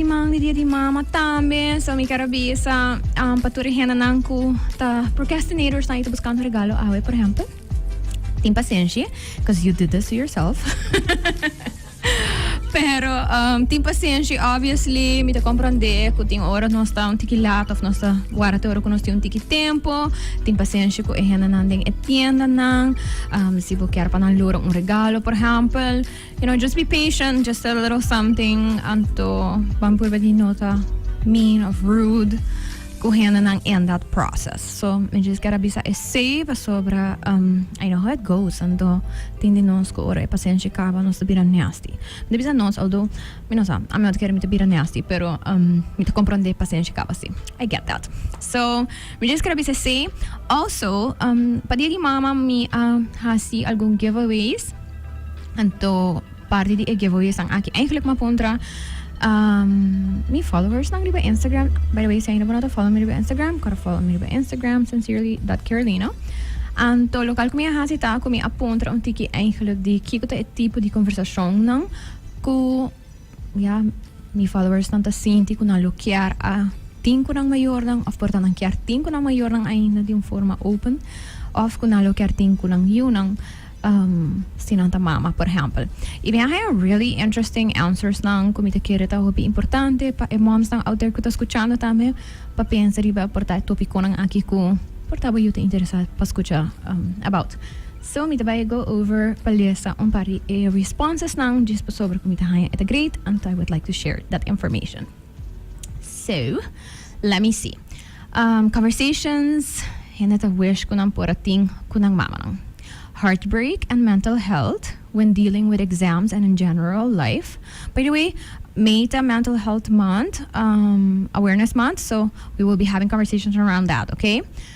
Siman di dia di mama tambe, so mi ker a bisa pa tur e hendenan ku ta procrastinators nan, yu ta buskando regalo awe por ehempel. Tin pasenshi, cos you did this to yourself. Pero tin pasenshi, obviously mi ta komprondé ku tin ora nos ta un tiki lat òf nos ta wara te ora ku nos tin un tiki tempu. Tin pasenshi ku e hendenan den e tiendanan si bo ker pa nan logra un regalo por ehempel. You know just be patient just a little something anto ban purba di nota mean of rude ku hendenan in that process so mi just gotta bisa esei pasobra um I know how it goes anto tin di nos ku ora e pasenshi kaba nos ta bira nasty mi ta bisa nos although mi no sa ami otro kere mi ta bira nasty pero um mi ta komprondé pasenshi kaba si I get that so. Mi djis kere bisa esei. Also, pa dia di mama mi a hasi algun giveaways. Anto parti di e giveawaysnan aki eigenlijk mi a puntra mi followersnan riba Instagram. By the way, si ainda bo no ta follo mi riba Instagram, kore follo mi riba Instagram, sincerely dot Carolina. Anto local ku mi a hasi ta ku mi a puntra un tiki eigenlijk di kiko ta e tipo di konversashonnan ku. Ya, mi followersnan ta sinti ku nan lo kier a tin ku nan mayornan òf por ta nan kier tin ku nan mayornan ainda di un forma open òf ku nan lo kier tin ku nan yunan um si nan ta mama por ehèmpel. I mi a haña really interesting answersnan ku mi ta kere ta hopi importante pa e mòmsnan out there ku ta skuchando tambe pa pensa riba e por ta e topikonan aki ku por ta bo yu ta interesá pa skucha about. So mi ta bai go over pa lesa un par di e responsesnan djes pasobra cu mi ta haña e ta great anto I would like to share that information. So let me see Um Conversations Hende ta wish cu nan por a tin cu nan mamanan Heartbreak and mental health when dealing with exams and in general life By the way May ta mental health month um awareness month so we will be having conversations around that okay.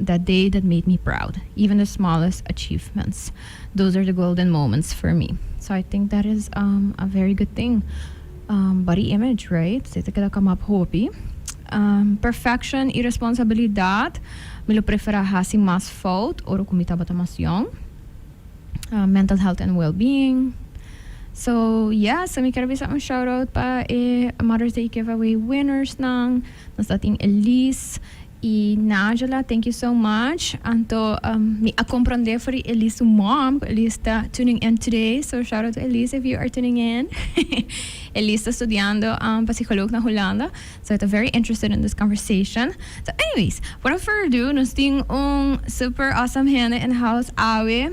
that day that made me proud even the smallest achievements those are the golden moments for me so I think that is um a very good thing um body image right so e ta keda kamap hopi um perfection y responsabilidad mi lo prefera hasi mas fout ora cu mi tabata mas yong um mental health and well being so yeah so mi ker bisa un shout out pa e mother's day giveaway winners nan nos ta tin Elise. Y Nangela thank you so much anto mi a comprende for di Elise su mom cu Elise ta tuning in today so shout out to Elise if you are tuning in Elise ta studiando pa psycholoog na Hulanda so e ta very interested in this conversation so anyways without further ado nos tin un super awesome hende in the house awe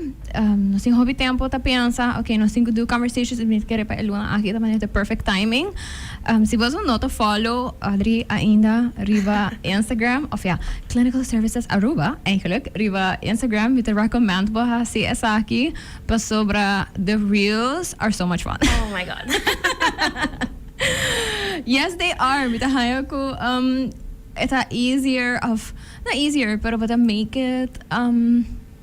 nos tin hopi tempo ta pensa okay nos tin cu do conversations y mi ta kere pa e luna aki ta manera ta perfect timing. Si bo asun no ta follow Audrey ainda riba Instagram, òf ya, Clinical Services Aruba eigenlijk, riba Instagram, mi ta recommend bo hasi esaki pasobra the reels are so much fun. Oh my God! Yes they are, mi ta haña ku e ta easier, òf no easier, pero bo ta make it.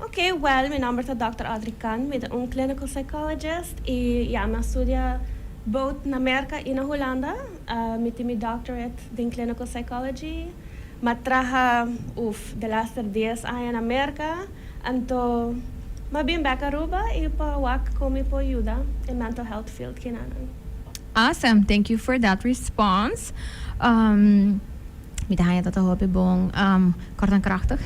Ok, well, mi nomber ta Dòkter Audrey Kan. Mi ta un clinical psychologist i ya, mi a studia both na Merka i na Hulanda. Mi tin mi doctorate den clinical psychology. Mi a traha, uf, de laster dies aña na Merka. Anto mi a bin bèk Aruba i pa wak kon mi por yuda e mental health field kinanan. Awesome! Thank you for that response. Mi ta haña tata hopi bon. Kort en krachtig.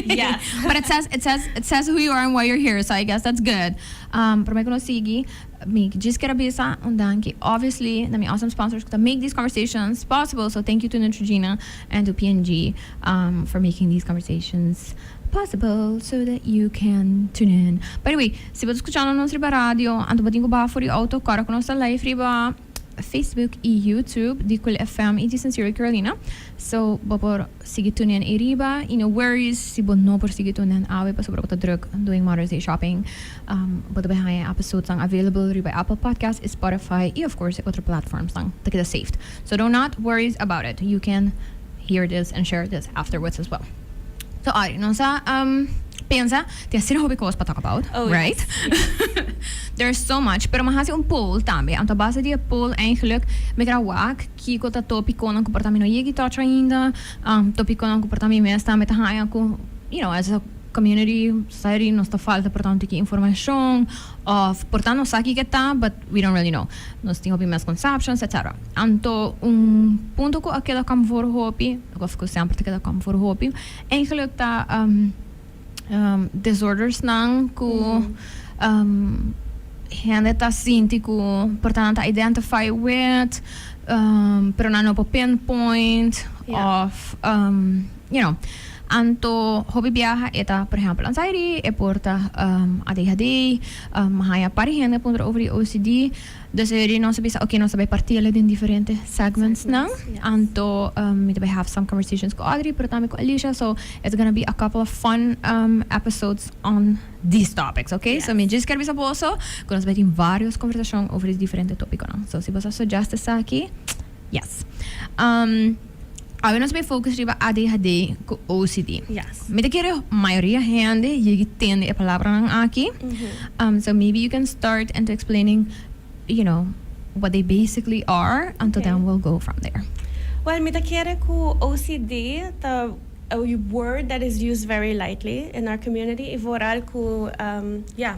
Yes. But it says, it says, it says who you are and why you're here, so I guess that's good. Um, promé ku nos sigui, mi djis kier a bisa un danki, obviously, na mi awesome sponsors ku ta make these conversations possible, so thank you to Neutrogena and to P&G, um, for making these conversations possible so that you can tune in. By the way, si bo ta skuchando nos riba radio, anto bo tin ku baha for e outo ku ora ku nos ta live riba, Facebook y YouTube di Cool FM y di Sincero Carolina. So bo por sigui tunen ey riba y no worries si bo no por sigui tunen awe pasobra bo ta druk doing Mother's Day shopping. Um bo ta bay haya e episodes nan available riba e Apple Podcast, e Spotify y of course e otro platforms nan ta keda saved. So do not worries about it. You can hear this and share this afterwards as well. So Ari, nos a pensa tin asina hopi cos pa talk about, right? There's so much, pero mi a haci un poll tambe, anto a base di e poll eigenlijk mi gra wak kico ta top iconan cu por ta mi no yegi touch ainda, top iconan cu por ta mi mes tambe ta haya cu, you know, as a community, society nos ta falta por ta un tiki informacion of por ta nos sa kico e ta, but. We don't really know. Nos tin hopi mes conceptions, etc. Anto un punto cu a keda cam for hopi, of cu semper ta keda cam for hopi, eigenlijk ta um, um, disordersnan cu um, hende ta sinti cu portanan ta identify with, um, pero nan no por pinpoint, Ja. of, um, you know. Anto hopi biaha e ta, por ehempel, anxiety, e por ta adhd, mi haña par hende puntra over di ocd, dus e di nos a bisa oke nos ta bai partiela den diferente segmentsnan, anto mi ta bai have some conversations ku Audrey pero tambe ku Alicia, so it's gonna be a couple of fun episodes on these topics oke, so mi djis kier bisa boso ku nos bai tin varios conversacion over e diferente topikonan, so si boso a suggest esaki yes. Awe nos bay focus riba ADHD cu OCD. Yes. Mi ta kere mayoria hende yegi tende e palabranan aki. Um, so maybe you can start into explaining, you know, what they basically are, anto Okay. then we'll go from there. Well, mi ta kere cu OCD ta a word that is used very lightly in our community y vooral cu, um, yeah.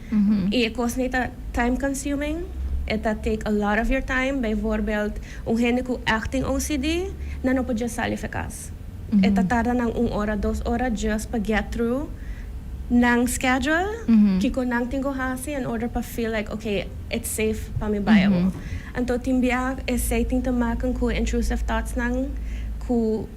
I e kosnan ei ta time consuming, e ta take a lot of your time, bijvoorbeeld un hende ku acting OCD nan no por just sali of e kas, e ta tarda nan un ora, dos ora just pa get through nan schedule, kiko nan tin ku hasi in order pa feel like ok it's safe pa mi bai awo. Anto tin bia esei tin te maken ku e intrusive thoughts nan ku.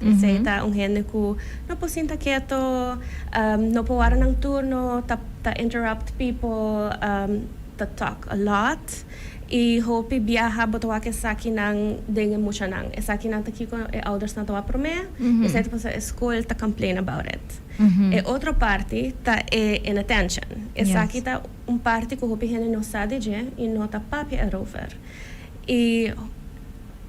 Esei ta un hende ku no por sinta keto, no por wara nan turno, ta interrupt pipo, ta tok a lot, i hopi biaha bo ta wak esakinan den e muchanan. Esakinan ta kiko e oudersnan ta wak promé, esei ta pasa e skol ta complain about it. E otro parti ta e inattention. Esaki ta un parti ku hopi hende no sa di dje i no ta papia erover. I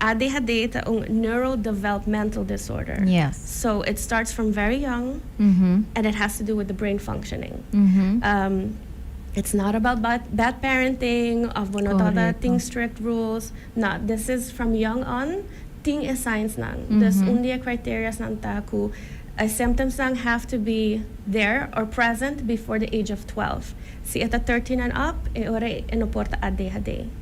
ADHD ta un neurodevelopmental disorder. Yes. So it starts from very young and it has to do with the brain functioning. It's not about bad parenting of bo no tabata tin strict rules, na, this is from young on tin e signs nan. Dus un di e criteria's nan ta cu e symptoms nan have to be there or present before the age of twelve. Si e ta thirteen and up e ora e no por ta ADHD.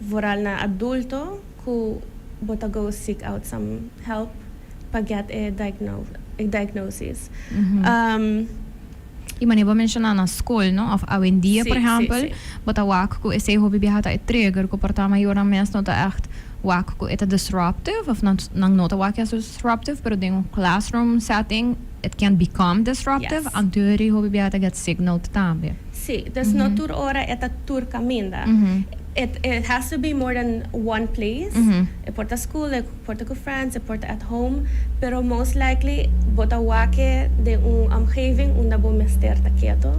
Vooral na adulto cu bo ta go seek out some help pa get e diagnosis. Y manera bo menciona na school, no? Of awendia, por ehempel, bo ta wak cu esey hopi biaha ta e trigger cu por ta mayornan mes no ta echt wak cu e ta disruptive of nan no ta wak cu e ta disruptive pero den un classroom setting, It can become disruptive. Anto e riho bibia e ta get sick note tambe. Sí, dus no tur ora e ta tur caminda. It it has to be more than one place. E por ta school, e por ta cu friends, e por ta at home, pero most likely bo ta wake den un omgeving unda bo mester ta keto,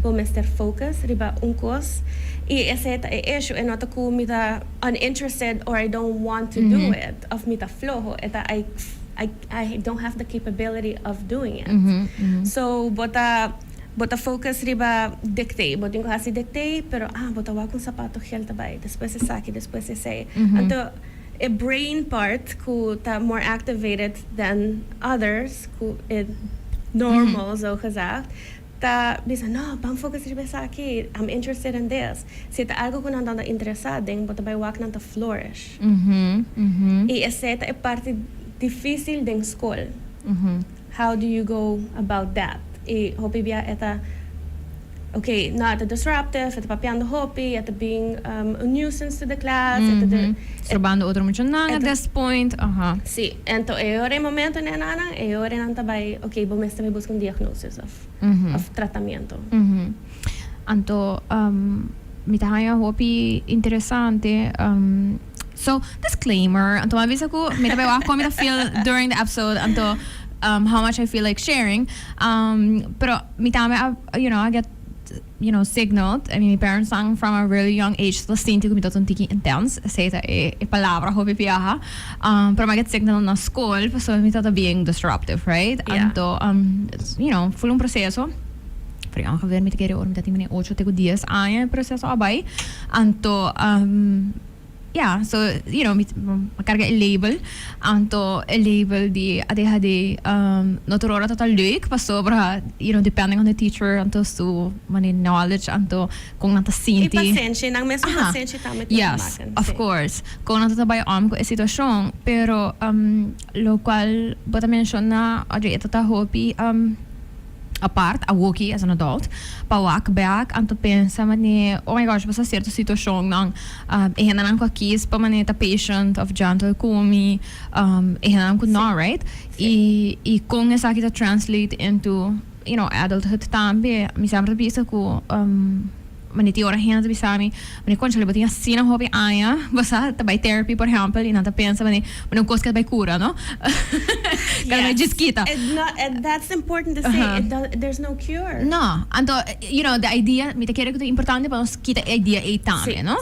bo mester focus riba un cos. Y esey ta e issue, e no ta cu mi ta uninterested or I don't want to do it of mi ta floho, e ta I I I don't have the capability of doing it. So bo ta bo ta focus riba dictee. Bo tin cu haci dictee, pero ah bo ta wak un sapato gel ta bay, despues esaki, despues esey. Anto e brain part cu ta more activated than others cu e normal zo gezegd, Ta bisa, No, ban foco escribi esaki, I'm interested in this. Si e ta algo cu nan ta unda interesa den, bo ta bay wak nan ta flourish. Y esey ta e parti dificil den scol. How do you go about that? Y hopi bia e ta, ok, no, e ta disruptive, e ta papiando hopi, e ta bin un nuisance to the class, e ta. Strobando otro muchanan at this point, aha. Si, ento e ora, e momento, nena nan, e ora nan ta bay, ok, bo mester bay busca un diagnosis. of tratamiento. Anto mi ta haña hopi interesante. So, disclaimer, anto mi a bisa ku mi ta bay wak kon mi ta feel during the episode, anto how much I feel like sharing. Pero mi tambe a, you know, a get. you know, signaled. I mean, mi parents-nan from a really young age ta sinti cu mi ta un tiki intens. Esey ta e palabra hopi biaha. Um, pero mi a get signal na scol pasobra mi tata bien disruptive, right? Yeah. Anto, um, you know, full un proceso. Pero ya mi gebeurt mi ta kere ora mi ta tin binnen ocho te cu dies aña e proceso a bay. Anto, um. Ya, so you know mi a carga e label, anto e label di a deha di um, no tur ora ta ta leuk pasobra you know depending on the teacher anto su mane knowledge anto con nan ta I sinti. pasenshi, nan mes cu Aha. pasenshi tambe tin yes, ta makan. of Sí. course, con nan ta ta bay om cu e situacion, pero um locual bo ta menciona Audrey e ta ta hopi um. Apart, awoki as an adult, pa wak bèk anto pensa man'é, oh my gosh, basta sierto situashonnan, e hendenan ku a kies pa man'é ta patient òf gentle ku mi, e hendenan ku nò, right? I i kon esaki ta translate into, you know, adulthood tambe. Mi semper ta bisa ku. Mane tin ora hende ta bisa mi, mane conchale bo tin asina hopi aña, bo sa ta bay therapy por ehempel y nan ta pensa mane mane un cos ke ta bay cura no? Cara mane djis kita. That's important to say, it does, there's no cure. No, anto you know the idea mi ta kere cu ta importante pa nos kita e idea ey tambe no.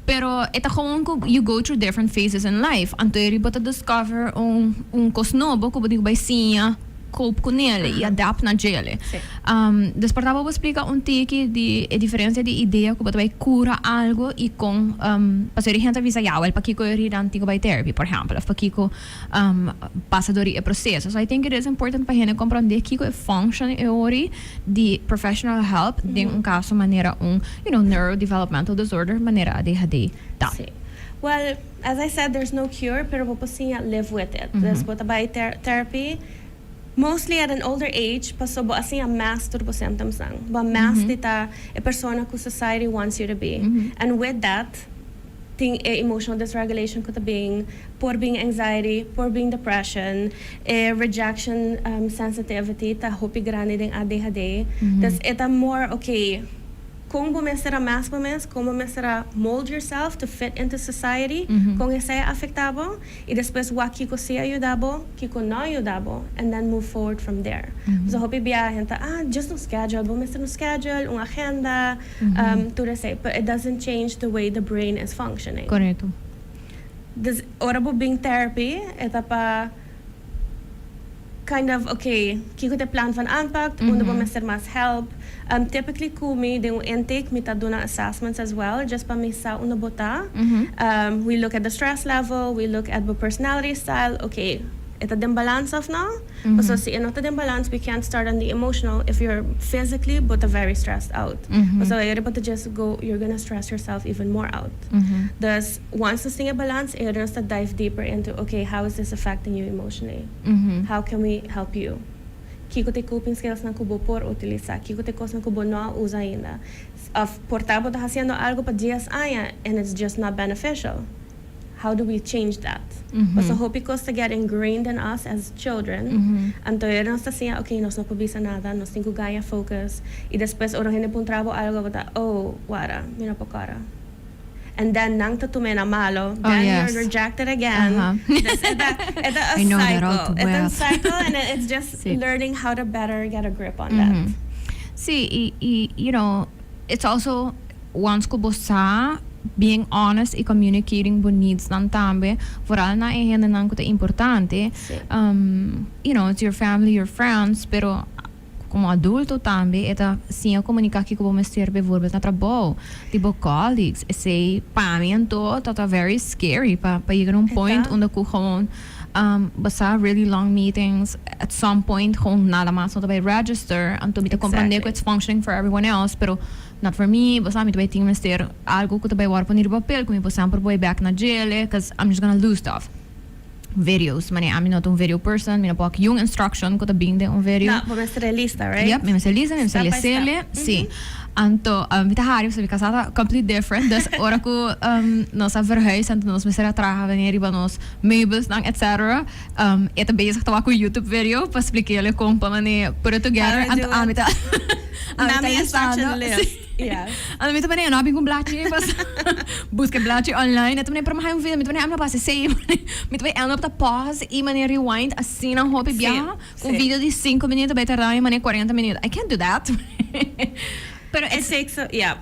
Pero e ta gewoon cu you go through different phases in life. Anto e ri bo ta discover un un cos nobo cu bo dico bay siña, cope cu nele y adapt na djele. Des por tabo bo splica un tiki di e diferencia di idea cu bo ta bay cura algo y con pasobra e hende a bisa ya wel pakico e ri nan tin cu bay therapy por ehempel of pakico pasa dor di e proseso. So I think it is important pa hende komprondé kiko e function e ori di professional help den un kaso manera un, you know, neurodevelopmental disorder manera ADHD ta. Sí. Well, as I said, there's no cure, pero bo por siña live with it. Des bo ta bai ter therapy, mostly at an older age, paso bo a siña mes tur bo symptoms nan. Bo a mes di ta e persona ku society wants you to be. And with that. Tin e emotional dysregulation cu ta bin, por bin anxiety, por bin depression. E rejection sensitivity ta hopi grandi den ADHD. Dus e ta more ok con bo mester a mask bo mes, con bo mester a mold yourself to fit into society, con esey a afecta bo y despues wak kico si a yuda bo, kico no a yuda bo and then move forward from there. Pasobra hopi biaha hende ta, ah, just un schedule. Bo mester un schedule, un agenda. Tur esei, but it doesn't change the way the brain is functioning. Correcto. Dus ora bo bin therapy e ta pa kind of ok, kico ta e plan van aanpak, unda bo mester mas help. Typically cu mi den un intake mi ta duna assessments as well, just pa mi sa unda bo ta. We look at the stress level, we look at bo personality style, ok, e ta den balans of no? Pasobra si e no ta den balans, we can't start on the emotional if you're physically bo ta very stressed out. Pasobra e riba ta just go, you're gonna stress yourself even more out. Dus, once nos tin e balans, e nos ta dive deeper into, ok, how is this affecting you emotionally? How can we help you? Kiko ta e coping skillsnan ku bo por utilisa? Kiko ta e kosnan ku bo no a usa ainda? Òf por ta bo ta hasiendo algu pa dies aña and it's just not beneficial? How do we change that? Paso hopi cos ta get ingrained in us as children, anto ayer nos ta siña ok nos no por bisa nada, nos tin cu gaña focus, y despues ora un hende puntra bo algo bo ta oh wara mi no por cora, and then nan ta tume na malo, then you're rejected again, dus e ta e ta a cycle, e ta un cycle and it's just learning how to better get a grip on that. Sí, y y you know. It's also wants cu bo sa being honest y communicating bo needs nan tambe, vooral na e hendenan cu ta importante. Sí. Um, you know, it's your family, your friends, pero como adulto tambe e ta siña comunica kico bo mester, bijvoorbeeld na trabao, di bo colleagues. Esey pa mi anto ta ta very scary pa pa yega na un point unda cu gewoon. Basa really long meetings at some point gewoon nada mas no ta bay register anto mi ta comprende cu it's functioning for everyone else pero not for me basa mi ta bay tin mester algo cu ta bay worde pone riba papel cu mi por semper bay back na djele cuz I'm just gonna lose stuff videos manera ami no ta un video person mi no por aki un instruction cu ta bin den un video No, bo mester a lista, right? Yep, mi mester lista, mi mester Step by step. lesele, sí. Anto, um, mi ta hari pasobra mi casa ta completely different, dus ora cu um, nos a verhuis, anto nos mester a traha beney riba nos meubelsnan etc. E ta bezig ta wak un YouTube video pa splik'éle kon pa manera put it together and ami ta ami ta listando and ami ta manera no a bin ku un blachi ei paso buska e blachi online e ta manera pero mi a haña un video mi ta manera ami no a basa esei mi ta end up ta pause i manera rewind asina hopi biaha ku un video di sinku minüt ta bai tarda mi manera kuarenta minüt I can't do that pero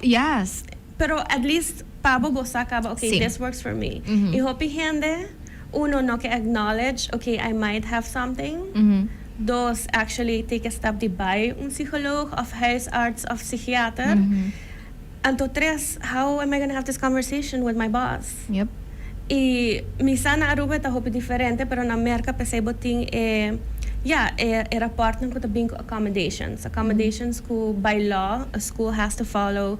yes. Pero at least pa bo gosa caba ok this works for me. Y hopi hende uno no ke acknowledge ok I might have something dos actually take a step di bay un psycholog of huisarts of psychiater anto tres how am I gonna have this conversation with my boss. Y misa na Aruba e ta hopi diferente pero na Merca pesey bo tin e ya e rapportnan cu ta bin cu accommodations accommodations cu by law a school has to follow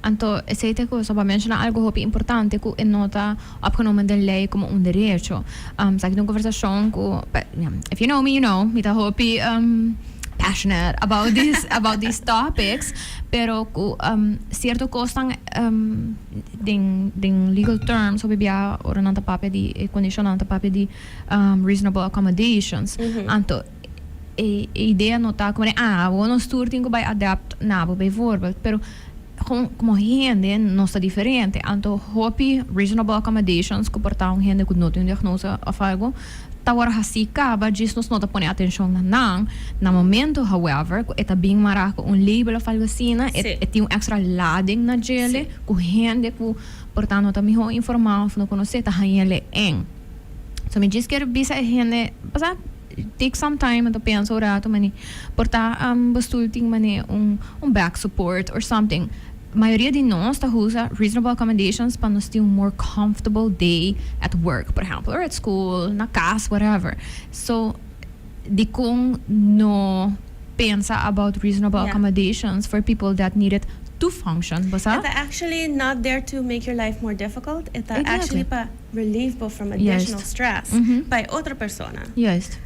Anto, esei ta e cosa bo a menciona algo hopi importante cu e no ta opgenomen den ley como un derecho. Um, esaki ta un conversacion cu, pe- yeah, if you know me, you know, mi ta hopi um, passionate about this, about these topics, pero cu um, cierto cosnan um, den, den legal terms hopi bia ora nan ta papia di e condicionnan ta papia di um, reasonable accommodations. Anto, e idea no ta como de ah awor nos tur tin cu bay adapt na bo bijvoorbeeld pero con como hende nos ta diferente anto hopi reasonable accommodations cu por ta un hende cu no tin un diagnose of algo ta worde haci caba djis nos no ta pone atencion na nan na momento however cu e ta been mara cu un label of algo asina e tin un extra lading na djele cu hende cu por ta no ta miho informa of no conoce ta haña le en so mi djis quier bisa e hende pasá. Take some time en ta pensa un rato mane por ta am bo stoel tin mane un un back support or something. Mayoria di nos ta usa reasonable accommodations pa nos tin un more comfortable day at work por ehempel or at school na cas whatever so dikon no pensa about reasonable accommodations for people that need it to function bo sa? E ta actually not there to make your life more difficult e ta actually pa. Relieve bo from additional stress pa e otro persona.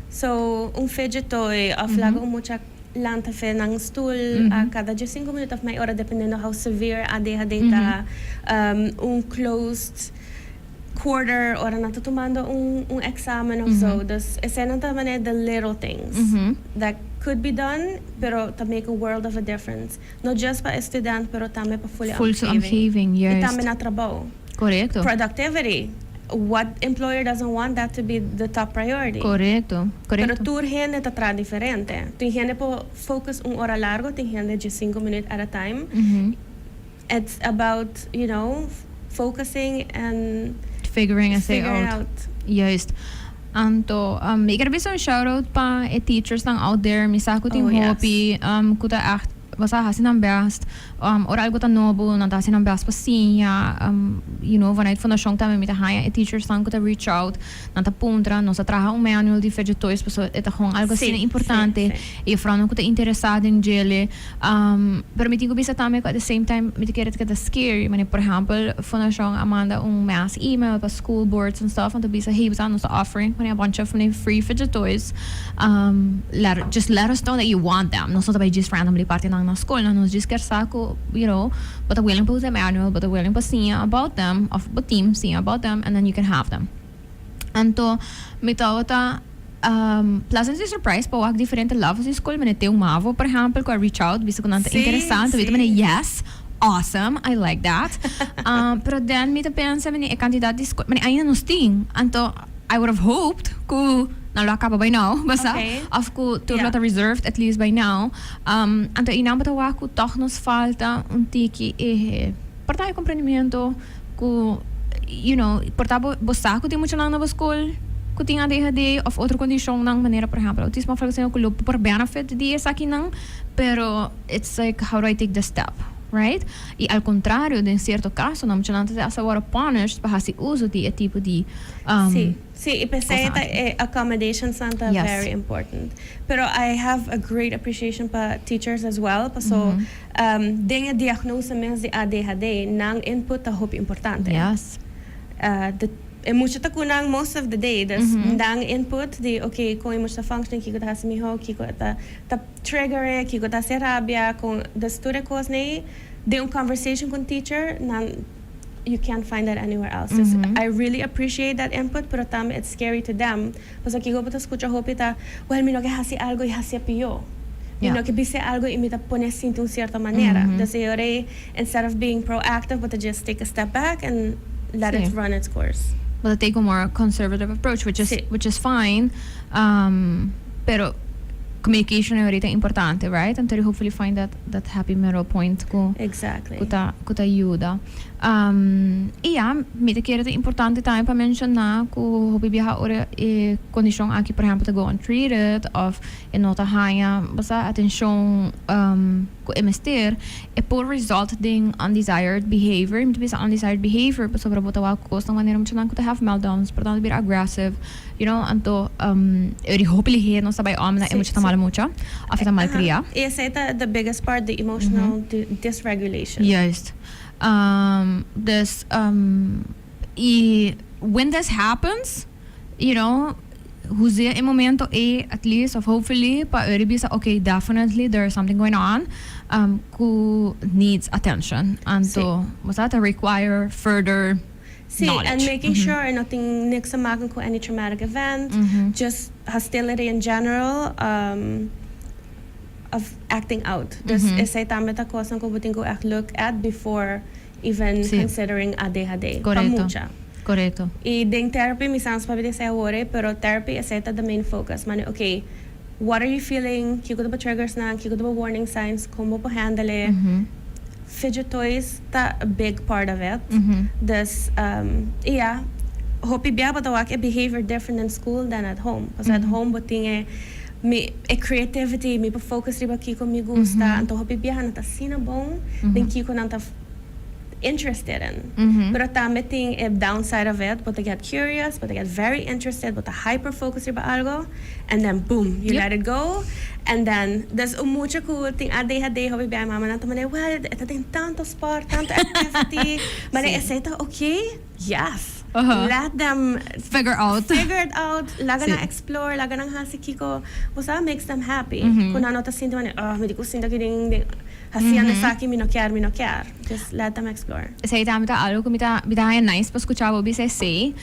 So, un fidget toy of laga un mucha lanta fe nan un stoel a cada dies cinco minut of mai ora dependendo how severe adhd ta. Un closed quarter ora nan ta tumando un examen of zo. Dus esenan ta manera di little things that could be done pero ta make a world of a difference. No just pa e student pero tambe pa full e omgeving. I tambe na trabou. Productivity, what employer doesn't want that to be the top priority. Pero tur hende ta traha diferente. Tin hende por focus un ora largo, tin hende dje sinku minuut at a time. It's about you know focusing and figuring out. Anto mi quier bisa un shout out pa e teachers nan out there mi sa cu tin hopi cu ta echt boso a haci nan best ora algo ta nobo nan ta haci nan best pa siña you know vanuit fundacion tambe mi ta haña e teachers nan cu ta reach out nan ta puntra nos a traha un manual di Fedje Toys pasobra e ta gong algo asina importante y e jefrounan cu ta interesa den djele. Pero mi tin cu bisa tambe cu at the same time mi ta kere ta scary. Manera por ehempel fundacion a manda un mass email pa school boards and stuff en ta bisa hey nos ta offering a bunch of mane free fidget toys just let us know that you want them. Nos no ta bay djis randomly parti nan na school nan nos djis ker sa cu you know bo ta willing pa usa e manual bo ta willing pa siña about them of bo team siña about them and then you can have them. Anto mi tabata pleasantly surprised pa wak diferente levels di school. Mene teu mavo, por ehempel, cu a reach out, bisa cu nan ta Sí, interesante. Mita sí. mene, yes, awesome, I like that. Um, pero den mi ta pensa, mene, e cantidad di school, mene, ainda nos tin. Anto, I would have hoped cu nan lo a caba by now, basá. Oké. Of cu tur lo Ja. ta reserved at least by now. Um, anto, y nan bo ta wak cu tog nos falta un tiki e partij di comprendimiento. Ku you know por ta bo bo sa ku tin mucha nan na bo skol ku tin adhd of otro kondishonnan manera por ehempel outismo of algo asina ku lo por benefit di esakinan pero its like how do I take the step right y al contrario den cierto casonan mucha nan ta ser hasta worde punished pa hasi uso di e tipo di Si si y p'esei ta kosanan. e accommodations-nan ta Yes. very important pero I have a great appreciation pa teachers as well paso Mhm. Den e diagnosa mes di ADHD, nan input ta hopi importante. E mucha ta cu nan most of the day, dus nan input di oke, con e mucha ta functioning, kico ta haci miho, kico e ta trigger e, kico ta haci e rabia, con, dus tur e cosnan ey den un conversation cu un teacher nan. You can't find that anywhere else dus I really appreciate that input pero tambe it's scary to them pasobra kico bo ta scucha hopi ta well mi no ke haci algo y hacié pio mi no ke bisé algo y mi ta pone sinti un cierto manera dus e ora e instead of being proactive bo ta just take a step back and let it run it's course. Bo ta take un more conservative approach which is which is fine pero communication e ora e ta importante right? Anto di hopefully find that. dat happy middle point ku ku ta ku ta yuda. i ya, mi ta kere ta importante tambe pa menshoná ku hopi biaha ora e kondishon aki por ehèmpel ta go untreated òf e no ta haña basta atenshon ku e mester, e por result den undesired behavior. Mi ta bisa undesired behavior pasobra bo ta wak kos na un manera muchanan ku ta have meltdowns, por tantu ta bira aggressive. You know, anto eri hopi lihe nos ta bai om na e mucha ta malo mucha of e ta malkria. Y esey ta the biggest part di emotional dysregulation. Juist. Dus, y when this happens, you know, huzia e momento ey at least of hopefully pa eri bisa ok, definitely there is something going on cu needs attention. Anto, bo sa, ta require further. Si en making sure e no tin niks ta maken ku any traumatic event, just hostility in general of acting out. Dus esei tambe ta kosnan ku bo tin ku ègt look at before even considering ADHD pa mucha. I den therapy mi sa nos pa bini esei awor e pero therapy esei ta the main focus manera, okay, What are you feeling? Kiko ta bo triggersnan? Kiko ta bo warning signs? Kon bo por handle e? Fidget toys ta a big part of it. Dus, i ya, hopi bia bo ta wak e behavior different den school dan at home. Pasobra at home bo tin e, mi, e creativity, mi por focus riba kiko mi gusta. Anto hopi bia nan ta asina bon den kiko nan ta. interested in. Pero tambe tin e downside of it, bo ta get curious, bo ta get very interested, bo ta hyper focus riba algo, and then boom, you let it go, and then, dus un mucha cu tin adhd, hopi biaha e mamanan ta manera, well, e ta den tanto sport, tanto activity, manera esey ta ok, yes, let them, figure out, figure it out, laga nan explore, laga nan haci kico, bo sa, makes them happy, cu nan no ta sinti manera, oh, mi di cu sinti aki den. Hasiendo esaki mi no kier, mi no kier. Just let them explore. Esei tambe ta algo cu mi ta, mi ta haña nice pa scucha bo bisa esei.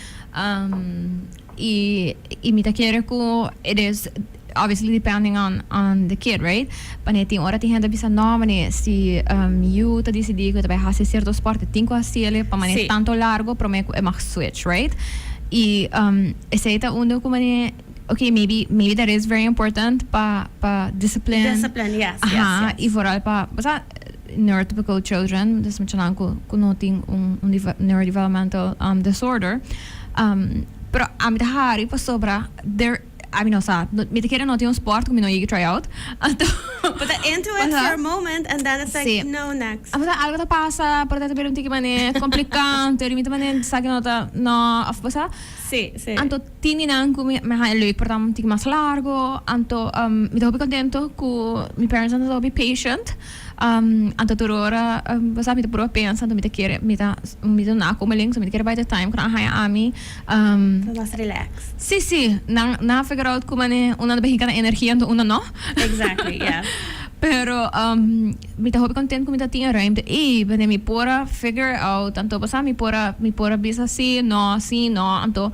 Y, y mi ta kere cu e des, obviously depending on, on the kid, right? Mane tin ora tin hende ta bisa, No, mane si yu ta dicidi cu e ta bay haci cierto sport, e tin cu haci ele pa mane Sí. tanto largo prome cu e mag switch, right? Y esei ta un dor cu mane. okay maybe maybe that is very important pa pa discipline discipline yes yes, Aha, yes. y vooral pa, o sea, neurotypical children, dus muchanan ku ku no tin un un deve- neurodevelopmental um, disorder. Um, pero a mi ta hari pasobra there a mi no sa, no- mi ta kere no tin un sport ku mi no yega try out. Anto Bo ta into it Aha. for a moment and then it's like Sí. no next. Apuesta algo ta pasa, por tanto pero un tiki mané complicado, entonces mi te mané sa que no ta no, of pasa. Sí, sí. Anto Tin di nan cu mi ha e leuk por tamba un tin mas largo, anto mi ta hopi contento cu mi parents nan ta hopi patient, anto tur ora bosa mi ta proba pensa anto mi ta kere mi ta mi ta na como alin so mi ta kere bay ta time cu nan a haya ami. Por mas relax. Si si nan nan a figure out cu manera un nan ta bin hinca na energia anto un nan no. Exactly yeah. Pero mi ta hopi content cu mi ta tin e ruimte ey manera mi por a figure out anto bosa mi por a mi por a bisa si no si no anto.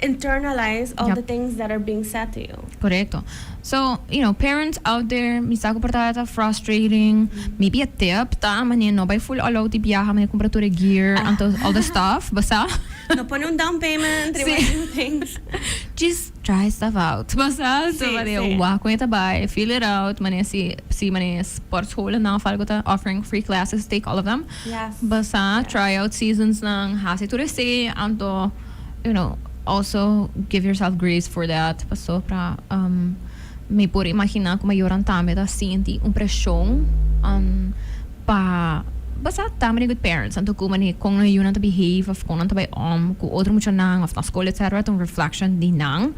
Internalize all the things that are being said to you. Correcto. So, you know, parents out there, mi sa cu por ta ata frustrating. Maybe e tip ta, mane, no bay full all out di biaha, mane, cumpra tur e gear, anto, all the stuff, basa? No pone un down payment, rima e tipo things. Just try stuff out, basa? So, mane, wak cu e ta bay, feel it out, mane, si, si, mane, sportscholennan of algo ta offering free classes, take all of them, basa? Try out seasonsnan, haci tur esey, anto. you know, also give yourself grace for that pasobra mi por imagina como ayoran tambe ta sinti un presion pa basa tambe riba e parents anto cu manera con nan yunan ta behave of con nan ta bai om cu otro muchanan of na school etc ta un reflection di nan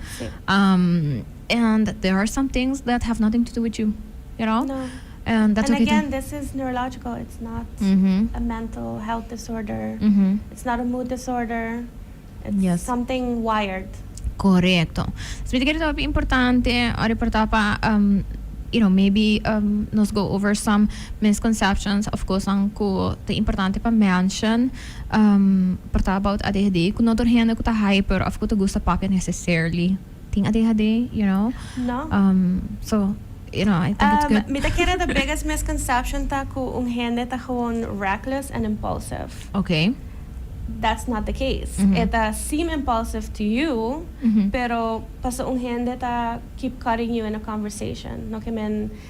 and there are some things that have nothing to do with you you know. And dat loke ta. And again this is neurological it's not a mental health disorder it's not a mood disorder it's something wired. Korekto. Simi ta kere ta hopi importante ora e por ta pa you know maybe nos go over some misconceptions of kosnan ku ta importante pa mention por ta about adhd ku no tur hende ku ta hyper of ku ta gusta papia necessarily. tin adhd you know um so you know I think it's good. Mi ta kere the biggest misconception ta cu un hende ta gewoon reckless and impulsive. Okay. That's not the case. E ta seem impulsive to you pero paso un hende ta keep cutting you in a conversation no ke men.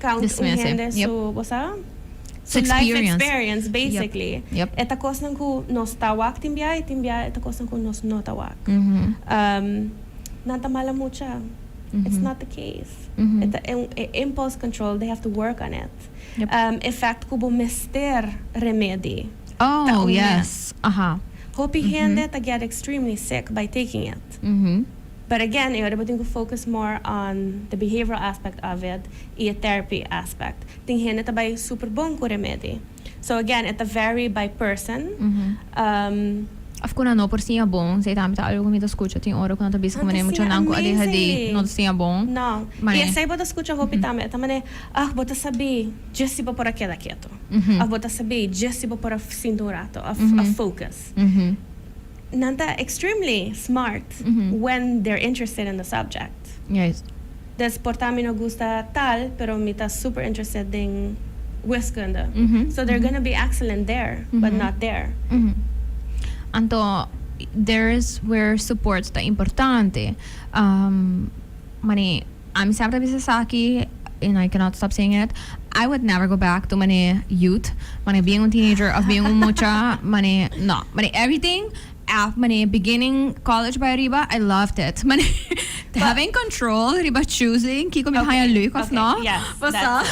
Count un hende su, bo sa, su life experience basically. E ta cosnan cu nos ta wak tin bia y tin bia e ta cosnan cu nos no ta wak. Nan ta mala mucha. It's not the case. E ta e un impulse control, they have to work on it. E fact cu bo mester remedy ta un mes. Hopi hende ta get extremely sick by taking it. But again, e ora bo tin cu focus more on the behavioral aspect of it y e therapy aspect. Tin hende ta bay super bon cu remedi. So again, e ta vary by person. Um. Of cu nan no por siña bon. Esey tambe ta algo cu mi ta scucha. Tin ora cu nan ta bisti cu mane mucha nan cu adhd no ta siña bon. No. Y esey bo ta scucha hopi tambe. E ta mane, Ach, bo ta sabi, dje si bo por a keda ketu. Of bo ta sabi, dje si bo por a sinta un rato of a focus. Nan ta extremely smart when they're interested in the subject. Yes. Des por ta mi no gusta tal pero mi ta super interested den wiskunde. So they're gonna be excellent there but not there. Anto there is where support ta importante. Mani. A mi siempre ta bisa esaki and I cannot stop saying it, I would never go back to mane youth, mane bien un teenager of bien un mucha, mane no. Mane everything af mane beginning college bai ariba I loved it. Mane having control riba choosing kiko mi ta haña leuk of no, pasá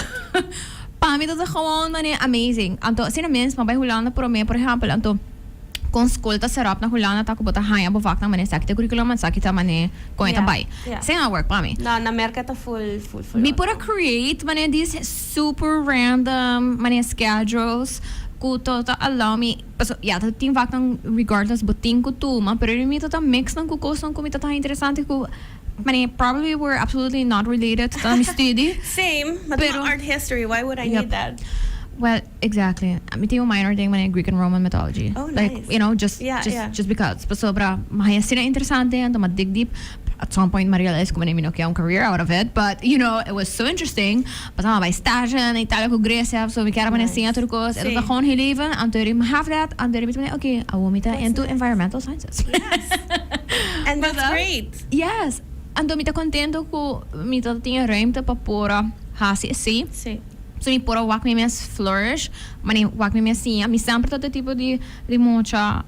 pa mi ta awor mane amazing. Anto asina mes mi a bai Hulanda promé por ehèmpel anto. kon skol ta seròp na Hulanda ta ku bo ta haña bo vak na manera esaki ta curriculum and esaki ta manera kon e ta bai. Sey no a work pa mi. No, na Merca ta full full full. Mi por a create manera dis super random manera schedules ku to ta allow mi paso ya ta tin vaknan regardless bo tin ku tuma pero mi to ta mix nan ku kosnan ku mi ta taha interesante ku manera probably were absolutely not related to mi studi. Same, mi ta taha art history, why would I need that? Yep. Well. Exactly. Mi tin un minor den manera Greek and Roman mythology. Oh, nice. Like, you know, just yeah, just yeah. just because. Pasobra ma haya sina interesante anto ma dig deep. At some point ma realize como mi no kia un career out of it, but you know, it was so interesting. Pasaba bai stage na Italia ku Grecia, so mi kera nice. singa tur kos. Sí. Eto ta gewoon heel leven anto mi have that anto mi ta okay, awo mi ta into environmental sciences. Yes. And that's great. Yes. Anto mi ta contento ku mi ta tin e ruimte pa por hasi esei. Sí. So mi por a wak mi mes flourish, ma ni wak mi mes siña. Mi semper ta ta e tipo di di mocha,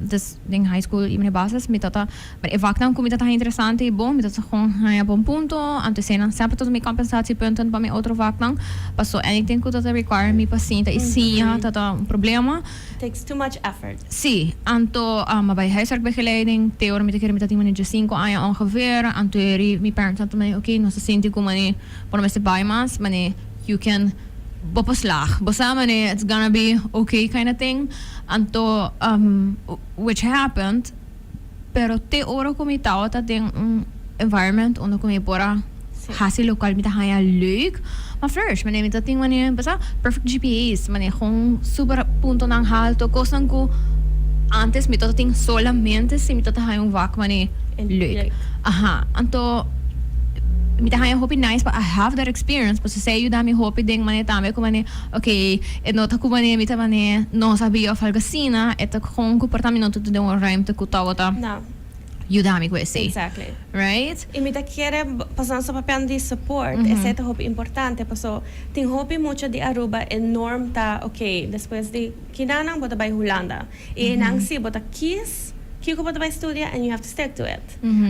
dus den high school i mi na e bases, mi ta ta, e waknan ku mi ta ta haña interesante i bon, mi ta ta kon haña bon punto, anto eseinan semper ta ta mi kompensatiepunten pa mi otro waknan. Paso anything ku ta ta require mi pa sinta i siña ta ta un problema. Takes too much effort. Sí, anto a bai huiswerk begeleid den te ora mi ta kere mi ta tin manera di diasinko aña ongeveer, anto eri mi parents a ta mei, oké, nos ta sinti ku mane. Bo no mester bai mas mane you can bo por slag bo sa mane it's gonna be ok kinda ting anto which happened pero te ora ku mi tabata den un environment unda ku mi por a hasi lokual mi ta haña leuk ma flourish mane mi ta tin mane bo sa perfect GPA's mane gon super puntonan halto kosnan ku antes mi tabata tin solamente si mi tabata haña un wak mane leuk aha anto. Mi ta haña hopi nice pa I have that experience pasobra esei a yuda mi hopi den manera tambe ku manera okay e no ta ku manera mi ta manera no sabia of algu asina e ta kon ku porta mi no ta tur den un ruimte ku tabata No. yuda mi ku esei. Exactly. Right? I mi ta kere pasobra nos ta papiando di support esei ta hopi importante paso tin hopi mucha di Aruba e norm ta okay despues di kinanan bo ta bai Hulanda. Y nan si bo ta kies kico bo ta bay studia and you have to stick to it.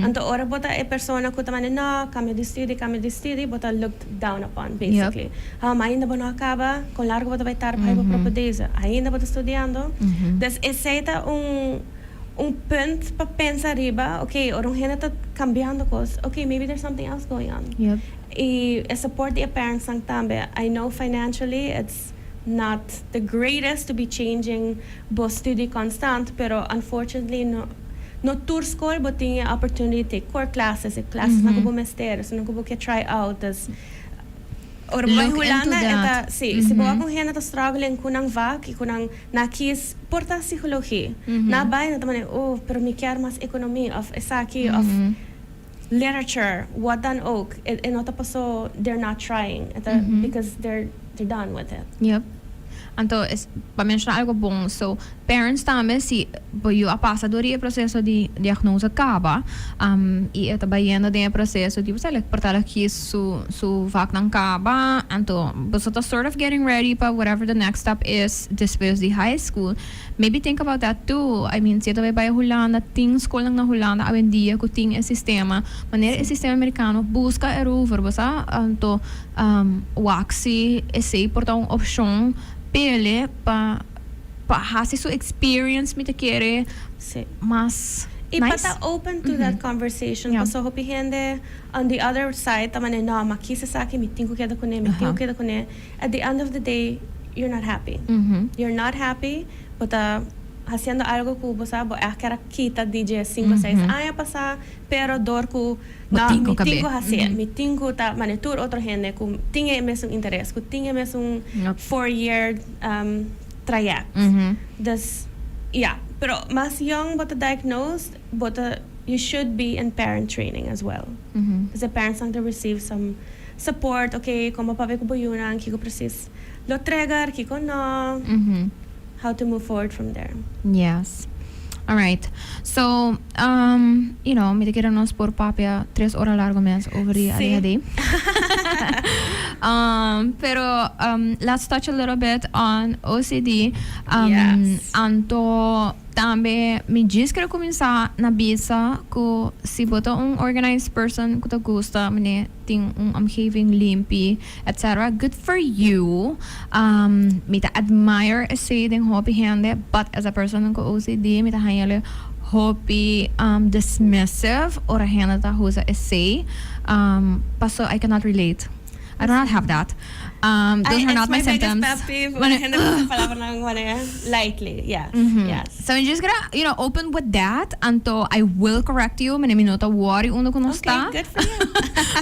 Anto ora bo ta e persona cu ta manda no, cambia di study, cambia di study, bo ta looked down upon basically. Ha, ma ainda bo no a caba, con largo bo ta bay tar bay bo propio deze? Ainda bo ta studiando? Dus esey ta un un punt pa pensa riba, ok, ora un hende ta cambiando cos, ok, maybe there's something else going on. Y e support di e parentsnan tambe, I know financially it's. not the greatest to be changing bo studi constant pero unfortunately no no tur skol bo tin e opportunity take core classes e klasnan ku bo mester esun nan ku bo ke try out dus ora bo bai Hulanda e ta si si bo wak un hende ta struggling ku nan vak i ku nan na kis por ta psikologi na bai nan ta manera oh pero mi kier mas ekonomi of esaki of Literature, what dan ook, e no ta paso they're not trying, e ta because they're done with it. Yep. Anto es pa menshona algo bon. So, parents tambe si bo yu a pasa dor di e proseso di diagnose kaba, i e ta bayendo den e proseso di bo sa like porta la kies su su vaknan kaba, anto boso ta sort of getting ready pa whatever the next step is despues di high school, Maybe think about that too, I mean siete bo e bai Hulanda tin skolnan na Hulanda awendia ku tin e sistema, manera e sistema Amerikano buska erover, bo sa, anto waksi esei por ta un opshon p'ele pa pa hasi su experience mi ta kere mas nice. I pa ta open to that conversation, paso hopi hende on the other side ta mane no, ma kis esaki mi tin ku keda kuné, mi tin ku keda kuné. At the end of the day you're not happy. You're not happy, bo ta haciendo algo cu bo sa bo eker a kita di dje cinco seis aña pasa, pero dor cu no mi tin cu hace, mi tin cu ta mane tur otro hende cu tin e mesun interes, cu tin e mesun four year trayect. Dus ya, pero mas young bo ta diagnosed, bo ta, you should be in parent training as well. P'esei parents nan ta receive some. Support, ok, kon bo pabia ku bo yunan, kiko presis lo trigger, kiko no, how to move forward from there. Yes. Alright. So, um, you know, mi ta kere nos por papia tres ora largu mes over di Si. ADHD. um, pero, um, let's touch a little bit on OCD. Um, Yes. Anto tambe mi djis kere kuminsá na bisa ku si bo ta un organized person ku ta gusta, mené, tin un omgeving limpi etc. Good for you. Mi ta admire esey den hopi hende but esa personnan cu OCD mi ta hañale hopi dismissive ora hende ta husa esey. Paso I cannot relate. I do not have that. Um, those I, are not my, my symptoms. Pet peeve, when it, uh, lightly, yeah. Mm-hmm. Yes. So I'm just gonna, you know, open with that. Anto, I will correct you. Mene mi nota worry uno con okay, good for you.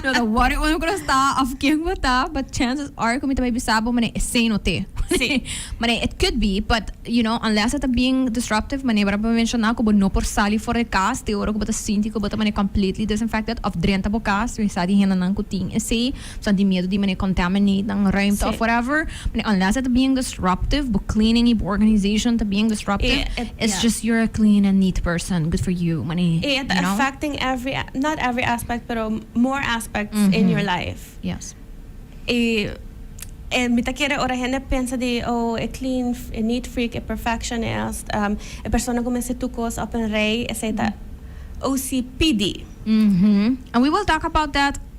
nota worry uno con sta of king with that, but chances are comita baby sabo mene say no te. Sí. mene it could be, but you know, unless it's being disruptive, mene para mencionar como no por salir for the cast, te oro como ta sinti como ta mene completely disinfected of drenta bo cast, we sa di hena nan kutin. Say Sa di miedu di mene contaminate nan ruimte of whatever, mane unless e ta bien disruptive, bo cleaning i bo organization ta bien disruptive, it's just you're a clean and neat person, good for you, mane, you know. E ta affecting every, not every aspect, pero more aspects in your life. Yes. I e mi ta kere ora hende pensa di oh e clean, e neat freak, e perfectionist, e persona cu mester tur cos op en rij, esey ta OCPD. And we will talk about that.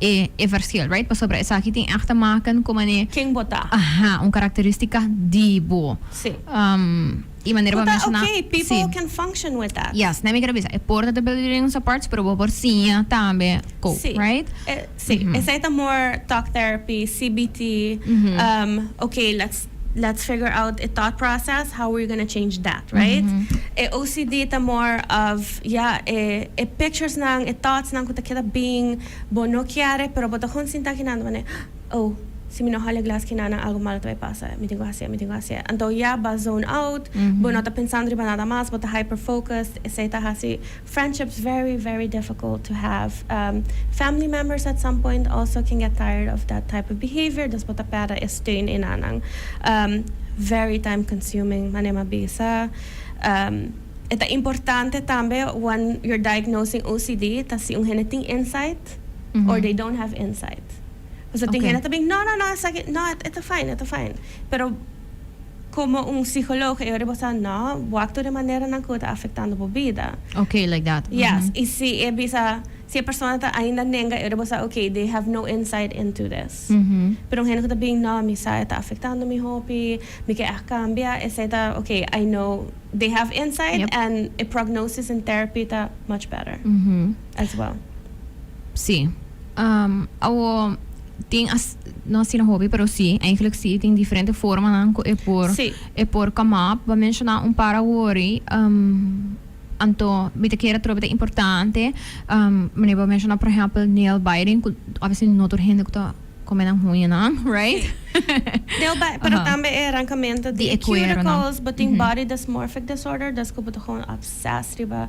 e e versil right pasobra esaki tin echt te maken ku mane Ken bo ta. aha un karakteristika di bo Si. e manera Ku bo ta menshoná oké si people can function with that. yes nan mi ker a bisa e por ta debilidad en un sa parts pero bo por siña tambe ko Si right e si esei ta more talk therapy CBT oké let's Let's figure out e thought process, how we're gonna change that, right? E OCD ta more of, ya, e e pictures nan, e thoughts nan cu ta keda bin, bo no kiere, pero bo ta con sinta kinando mane, Oh, si mi no hal e glas kina nan algo malo ta bay pasa, mi tin cu haci'e, mi tin cu haci'e. Anto ya, bo a zone out, bo no ta pensando riba nada mas, bo ta hyper-focused, esey ta haci, Friendships very very difficult to have um family members at some point also can get tired of that type of behavior dus bo ta perde e steun i na nan um very time consuming manera m'a bisa um e ta importante tambe wen you're diagnosing OCD ta si un hende tin insight or they don't have insight pasobra tin hende ta bin no no no esaki no e ta fine e ta fine pero. Como un psicologo e ora bo sa no waktu de maneranan cu ta afectando bo bida. Ok, like that. Yes, y si e bisa, si e persona ta ainda nenga e ora bo sa ok, they have no insight into this. Pero un hende cu ta bin no mi sa e ta afectando mi hopi, mi ke aht cambia, esey ta ok, I know they have insight and e prognosis in therapy ta much better as well. Si. Awo. Tin as, no asina hopi, pero si, eigenlijk si, tin diferente formanan cu e por, Sí. e por come up. Bo a menciona un par awori, em, anto mi ta kere trobe ta importante, em, manera bo a menciona, por ehempel, nail biting, cu obviously no tur hende cu ta come nan huñanan, right? Nail bite, pero Aha. tambe e arrancamento Di di e e cueronan. cuticles, bo tin body dysmorphic disorder, descu bo ta gewoon obsessed riba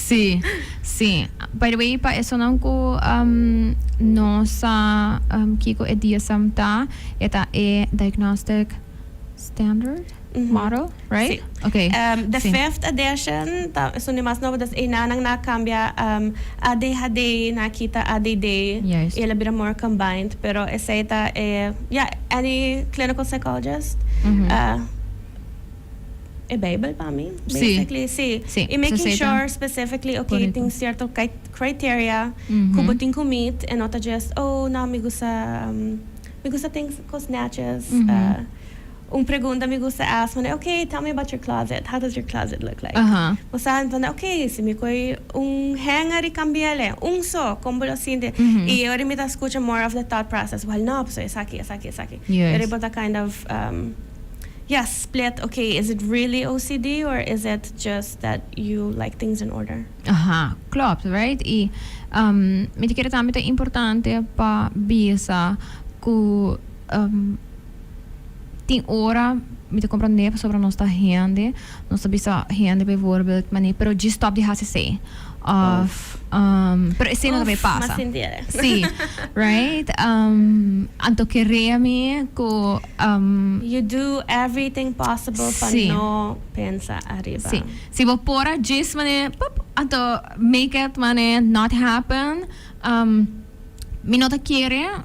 Sí, sí. By the way, pa esonan cu no sa kico e DSM ta, e ta e Diagnostic Standard Model, right? Sí. Ok. The fifth edition, ta esun di mas nobo, dus enanan na cambia ADHD na kita ADD, y el a bira more combined, pero esey ta e, yeah, any clinical psychologist a. E Bijbel pa mi, basically. Sí. Sí. Y making sure Soseta. specifically, okay, Correcto. tin cierto cri- criteria cu bo tin cu meet en no ta just, oh, no, mi gusta, um, mi gusta tin cos netjes. Uh, un pregunta mi gusta ask pone, okay, tell me about your closet. How does your closet look like? Aha. Bo sa entende, okay, si mi coge un hanger y cambiaele, un so, con bo lo sinti? Y e ora mi ta scucha more of the thought process, well, no, pasobra esaki, esaki, esaki. Yes. Y ora bo ta kind of, um. Ya split ok is it really OCD or is it just that you like things in order. Aha klopt right y um mi ta kere tambe ta importante pa bisa cu um tin ora mi ta comprende pasobra nos ta hende Nos ta bisa hende bijvoorbeeld, Mané, pero djis stòp di hasi esei. Òf, Pero esei no ta bay pasa. Sí, right? Anto ke rea mi ku, You do everything possible pa no pensa ariba. Sí. Si bo por a djis, mané, pup, anto make it, mané, not happen. Mi no ta kere.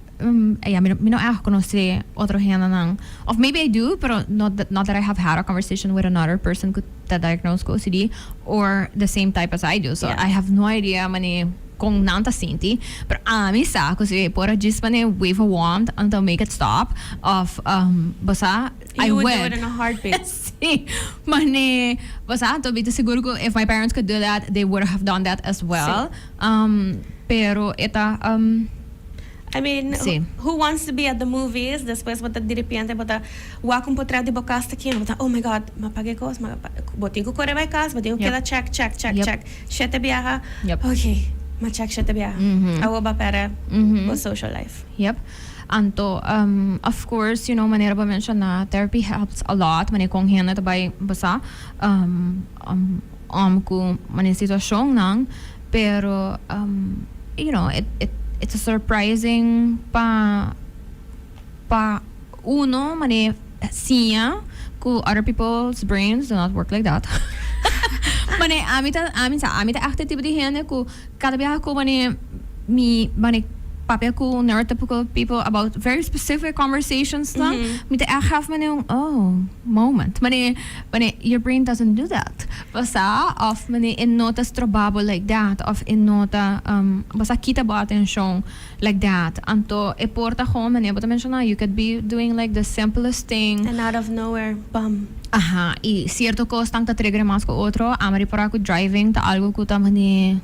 Ya, mi no èg konosé otro hendenan, òf maybe I do, pero no not that I have had a conversation with another person ku ta diagnosed ku ocd or the same type as I do. So, I have no idea manera kon nan ta sinti. Pero ami sa ku si por a djis manera wave a wand until make it stop òf bo sa I would. You would do it in a heartbeat. Sí, mane bo sa ta bita sigur ku if my parents could do that they would have done that as well. Sí. Pero e ta. I mean, who, Sí. who wants to be at the movies? Después bo ta di repente, bo ta wak un potret di bo kas ta kino. Bo ta, oh my god, ma paga e kos, ma pa-" Bo tin ku kore bai kas, bo tin ku Yep. keda check, check, check, Yep. check. Shete biaha, Yep. ok, ma check shete biaha. Mhm. Awo ba pere Mhm. bo social life. Yep. Anto, um, of course, you know, manera bo menshona, therapy helps a lot, manera kon hende ta bai basa, um, um, um, ku manera situashonnan. Pero you know it it it's a surprising pa pa uno mane siña cu other people's brains do not work like that. mane ami ta ami sa ami ta echt e tipo di hende cu cada bia cu mane mi mane papia cu neurotypical people about very specific conversations nan mi ta echt have mane un oh moment mane mane your brain doesn't do that. Pasá òf Meneer e no ta strobá bo like dat òf e no ta bo sa kita bo atenshon like dat. Anto e por ta gou Meneer bo ta menshoná you could be doing like the simplest thing. And out of nowhere, bam! Aha, i sierto kosnan ta tregere mas ku otro. Amari por a ku driving ta algu ku ta mani.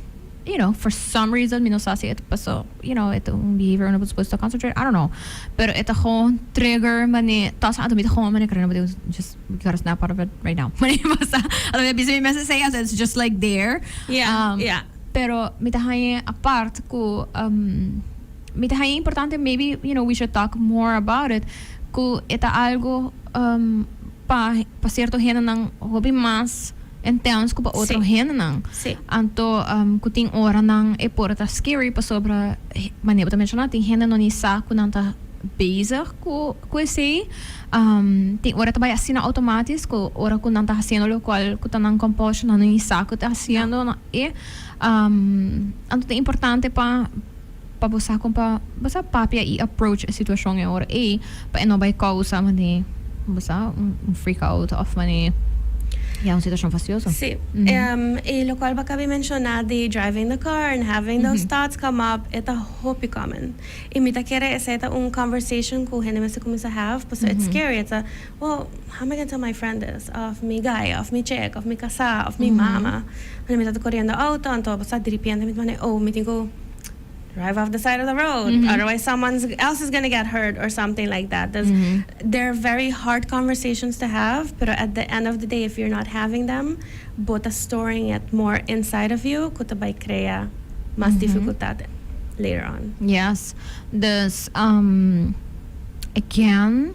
You know, for some reason mi no sa si e ta paso, you know, e ta un behavior unda bo ta suposo ta concentrate, I don't know. Pero e ta gewoon trigger mane, tawsa anto mi ta gewoon mane kare, just we gotta snap out of it right now. Mane mi pasa, anto mi a bisa mi mes esei as it's just like there. Yeah, Um, yeah. Pero mi ta haña apart ku um, mi ta haña importante maybe, you know, we should talk more about it, ku e ta algo um, pa pa cierto hendenan hopi mas intense cu pa otro Sí. hendenan. Sí. Anto um, cu tin oranan e por ta scary pasobra he- manera bo ta menciona tin hende no ni sa cu nan ta bezig cu cu esey. Um, tin ora ta bay asina automatis cu ora cu nan ta haciendo locual cu ta nan compulsion nan no ni sa cu ta haciendo. nan- e, um, anto ta importante pa. Pa bo sa con pa bo sa papia y approach e situacion e ora ey pa e no bay causa manera bo sa un freak out of manera ya un situacion fastioso. Sí. Y locual bo cabí menciona di driving the car and having those thoughts come up e ta hopi common y mi ta kere esey ta un conversation cu hende mester cuminsa have pasobra it's scary. Well, how mi can tell my friend this? Of mi guy, of mi chick, of mi casá, of mi mama. Ora mi ta ta coriendo auto, anto bo sta dripiendo, mi ta manda e ow, mi tin cu drive off the side of the road, otherwise someone else is gonna get hurt or something like that. Dus they're very hard conversations to have, pero at the end of the day if you're not having them, bo ta storing it more inside of you cu ta bay crea mas dificultad later on. Yes, dus again,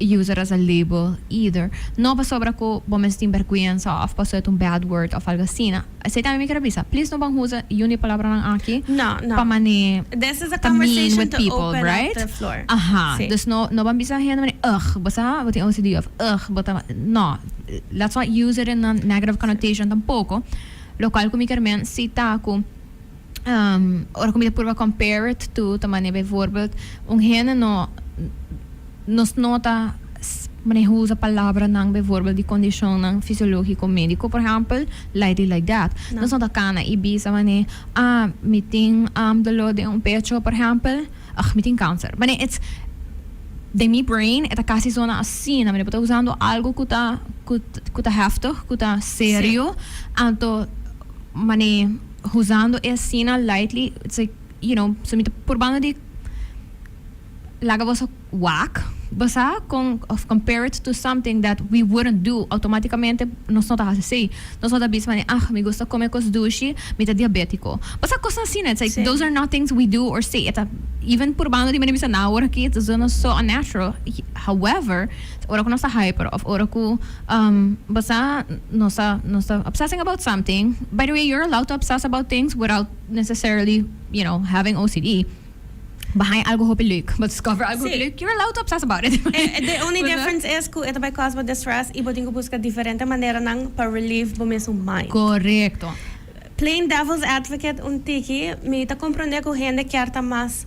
user as a label either. No pasobra cu bo mes tin berguensa of paso et un bad word of algo asina. Esey tambe mi kier a bisa. Please no ban usa y un di e palabranan aki pa mane ta mean with people, right? Aha. Dus no no ban bisa hende mane ugh bo sa bo tin OCD of ugh bo ta. No. Let's not use it in a negative connotation tampoco. Locual cu mi kier men cita cu. ora cu mi ta purba compare it to ta manera bijvoorbeeld un hende no nos no ta maneha usa palabranan bijvoorbeeld di condicionnan fisiologico medico por ehempel lightly like that nos no ta cana y bisa mane ah mi tin dolor den un pecho por ehempel ah mi tin cancer mane ets den mi brain e ta casi zona asina mane bo ta usando algo cu ta cu ta heftig cu ta serio anto mane. Huzando e asina lightly, so you know, so mi ta purbando di laga boso wak, basá kon of compare it to something that we wouldn't do, automáticamente nos no ta hasi esei. Nos no ta bisa van ei ah mi gusta kome kos dushi, mi ta diabétiko. Basá kosnan asina, it's like those are not things we do or say, e ta even purbando di manera mi ta bisa nan awor aki, it is almost so unnatural, however, Ora cu nos ta hyper of ora cu basa nos ta nos ta obsessing about something, by the way you're allowed to obsess about things without necessarily you know having OCD, behind algo hopi leuk bo discover algo hopi leuk you're allowed to obsess about it. The only difference is cu e ta bay cos bo distress y bo tin cu busca diferente maneranan pa relieve bo mesun mind. Correcto. Playing devil's advocate un tiki, mi ta comprende cu hende kier ta mas.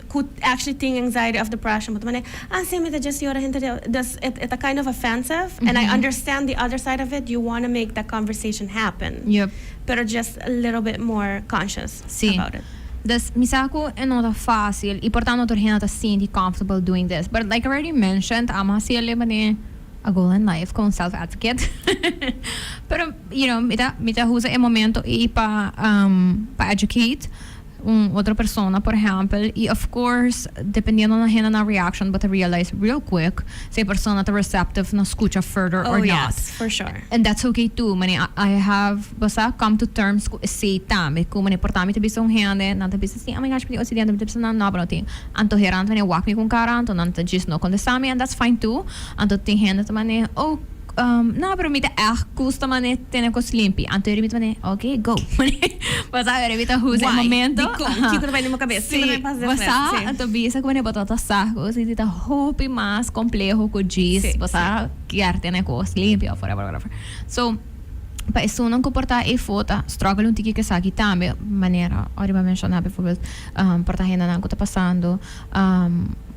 cu actually tin anxiety of depression bo ta manda asina mi ta just yora henter di awe dus e ta kind of offensive and I understand the other side of it you wanna make that conversation happen Yup. pero just a little bit more conscious Sí. about it. Dus mi sa cu e no ta facil y por tanto tur hende ta sinti comfortable doing this but like I already mentioned amo a siel leba den a goal in life como self advocate pero you know mi ta mi ta usa e momento y pa um pa educate un otro persona por ehempel y of course dependiendo na hendenan reaction bo ta realize real quick si e persona ta receptive na scucha further or not. Oh yes, for sure. And that's ok too mané I have bo sa come to terms cu esey tambe cu mané por ta mi ta bisa un hende nan ta bisa si a mi gachi mi tin occidente mi ta bisa nan no pero nan tin anto hernan mané wak mi cu un cara anto nan ta djis no contesta mi and that's fine too anto tin hende ta mané oh No, pero mi ta erg custo mane tene cos limpi. Anto Jeremie ta mane, Ok, go. Mane, bo sa awe Jeremie ta huza e momento. Why? Dikon? Kiko ta bai den bo cabeza? Kiko ta bai pasa den bo cabeza? Si, bo sa ta bisa cu mane bo ta tasa cu si ta hopi mas compleho cu djis. Bo sa kier tene cos limpi of whatever, whatever. So, pa esunnan cu por ta e fota, struggle un tiki cu esaki tambe, manera Oriba menciona bijvoorbeeld por ta hendenan cu ta pasando.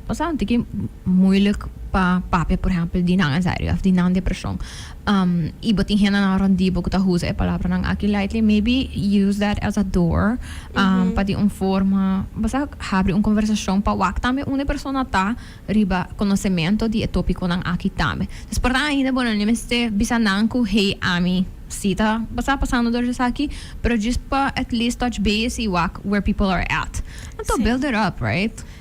Pasá un tiki moeilijk pa papia por ehempel di nan anxiety of di nan depreshon. Um, i bo tin hendenan around di bo ku ta usa e palabranan aki lightly, maybe use that as a door um, pa di un forma, basta habri un conversacion pa wak tambe unda e persona ta riba conocemento di e topiconan aki tambe. Dus por nan ainda bo no mester bisa nan ku hey ami si ta basta pasando dor di esaki, pero just pa at least touch base i wak where people are at. Anto build it up, right?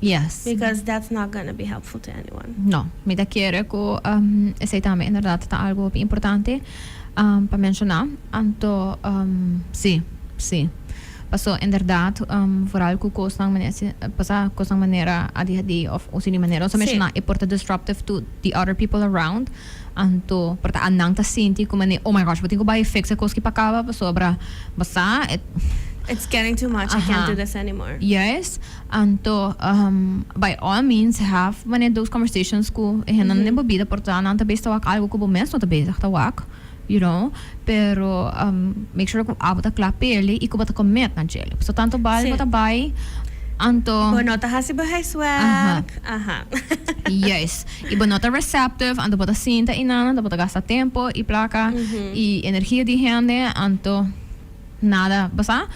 Yes. Because that's not gonna be helpful to anyone. No. Mi ta kere ku esei tambe inderdat ta algu hopi importante pa menshoná. Anto sí, sí. Paso inderdat foral ku kosnan manera pasá kosnan manera adhd òf un siñi manera nos a menshoná e por ta disruptive to the other people around. Anto por ta nan ta sinti ku manera oh my gosh bo tin ku bai fix e kos ki pa kaba pasobra basá e It's getting too much, I can't do this anymore. Yes. Anto, By all means, have manera dos conversations cu e hendenan den bo bida, por ta nan ta bezig ta wak algo cu bo mes no ta bezig ta wak, you know, pero make sure cu abo ta cla pa el'i y cu bo ta commit na djel'i. Pasobra tanto bai bo ta bai, anto. Bo no ta haci bo huiswerk, aha. Juist. Y bo no ta receptive, anto bo ta sinta y nan, anto bo ta gasta tempo y placa y energia di e hende, anto. Nada pasa,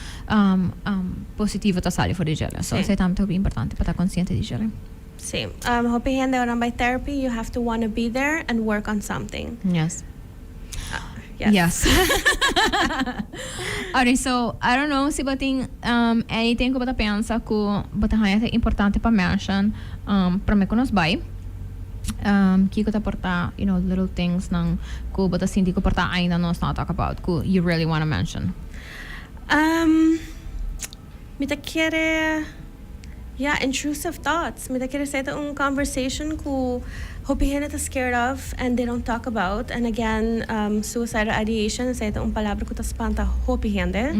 positivo ta sali for di djere. So esei tambe ta hopi importante pa ta konsiente di djere. Sí, hopi hende ora nan bai therapy you have to wanna be there and work on something. Yes. Yes. Oké, so I don't know si bo tin anything ku bo ta pensa ku bo ta haña ta importante pa menshon. Um, prome cu nos bay, um, kico ta por ta, you know, little thingsnan cu bo ta sinti cu por ta ainda nos not talk about, cu you really wanna mention? Um, mi ta kere, ya, intrusive thoughts. Mi ta kere sa e ta un conversation cu hopi hende ta scared of and they don't talk about. And again, um, suicidal ideation, esei ta un palabra cu ta spanta hopi hende.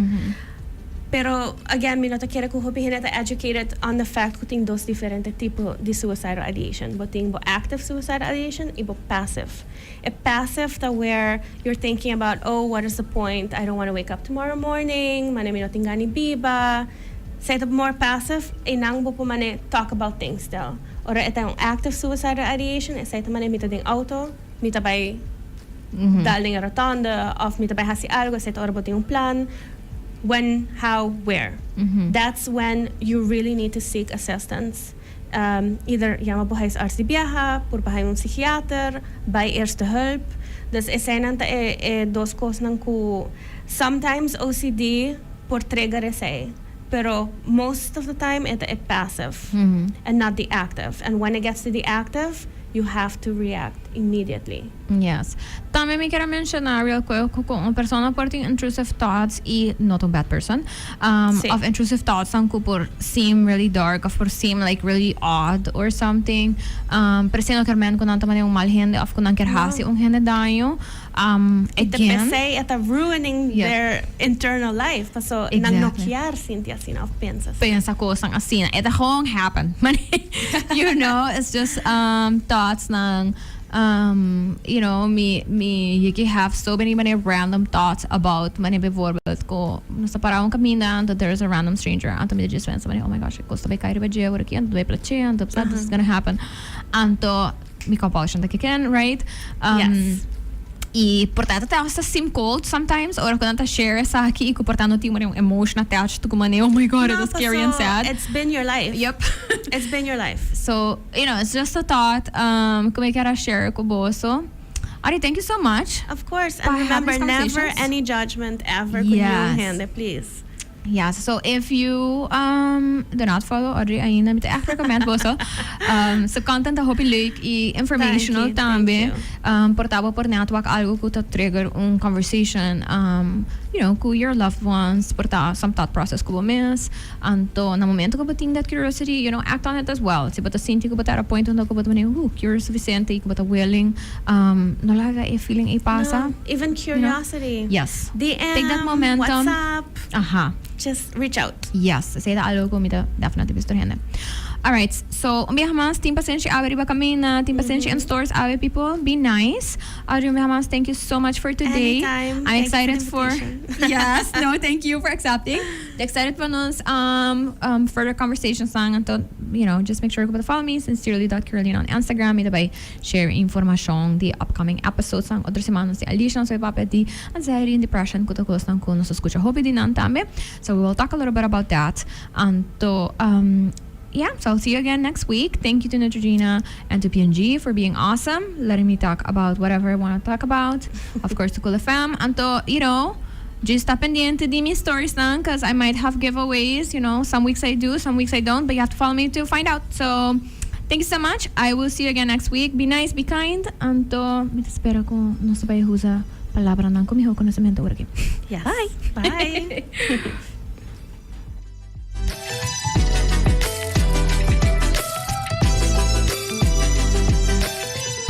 Pero, again, mi no ta kere cu hopi hende ta educated on the fact cu tin dos diferente tipo di suicidal ideation. Bo tin bo active suicidal ideation y bo passive. E passive ta where you're thinking about, oh, what is the point? I don't wanna wake up tomorrow morning. Mane mi no tin gan di biba. Esey ta more passive. Eynan bo por mane talk about things stel. Ora e ta un active suicidal ideation, esey ta mane mi ta den auto. Mi ta bai dal den e rotonde of mi ta bai hasi algo esetro ora bo tin un plan. When, how, where. That's when you really need to seek assistance. Either yama bo huisarts di biaha, por pa haña un psichiater, bai eerste hulp. Dus eseinan ta e dos cosnan cu sometimes OCD por trigger esei. pero most of the time e ta e passive and not di active and when it gets to di active you have to react immediately. Yes. Tambe mi kier a menciona real quick cu un persona por tin intrusive thoughts y no ta un bad person um of intrusive thoughts nan cu por seem really dark of por seem like really odd or something um per se no kier mente cu nan ta manera un mal hende of cu nan kier haci un hende daño. E ta pesey, e ta ruining their internal life, paso nan no kier sinti asina of pensa asina. Pensa cosnan asina. E ta gewoon happen. You know, it's just thoughts nan, you know, mi mi yeki have so many mane random thoughts about mane bijvoorbeeld cu nos ta para un caminda anto there is a random stranger anto mi ta djis pensa mane oh my gosh e cos ta bay cay riba dje awor aki anto ta bay place anto this is gonna happen anto. Mi kòp òshan ta keken, right? Yes. I por ta ta hasta sim cold sometimes ora cu nan ta share esaki y cu por ta no tin un emotion attached tucu manera oh my god it was scary and sad. It's been your life. Yep. It's been your life. So, you know, it's just a thought um cu mi kier a share cu boso. Ari, thank you so much. Of course. And remember, never any judgment ever cu new hende, please. Ya, so if you um do not follow Audrey ainda mi ta echt recommend boso. Um su content ta hopi leuk y informational tambe. Thank you, thank you. Um por ta bo por net wak algo cu ta trigger un conversation um you know cu your loved ones, por ta some thought process cu bo mes. Anto na momento cu bo tin that curiosity, you know, act on it as well. Si bo ta sinti cu bo ta at a point unda cu bo ta mira, hu, curious suficiente y cu bo ta willing. Um, no laga e feeling ei pasa. No, even curiosity. You know? Yes. DM, Take that momentum. WhatsApp. Aha. Just reach out. Yes, esei ta algo ku mi ta definitely bisa tur hende. Alright, so un biaha mas, tin pasenshi awe riba kaminda, tin pasenshi in stores awe people, be nice. Audrey un biaha mas, thank you so much for today. Anytime. I'm Thank you for the excited for, invitation. yes, no, thank you for accepting. Ta excited pa nos um, um, further conversations nan, anto, you know, just make sure ku bo ta follow mi, sincerely dot Carolina on Instagram, mi ta bai Share informashon di upcoming episodesnan otro semana si Alicia nos a papia di anxiety and depression cu ta cosnan cu nos a scucha hopi di nan tambe so we will talk a little bit about that anto um yeah so I'll see you again next week thank you to Neutrogena and to P&G for being awesome letting me talk about whatever I wanna talk about of course to Cool FM anto you know just ta pendiente di mi storiesnan cuz I might have giveaways you know some weeks I do some weeks I don't but you have to follow me to find out so. Thank you so much I will see you again next week be nice be kind anto mi ta spera cu nos ta bay usa palabranan cu miho conocemento ora aki bye.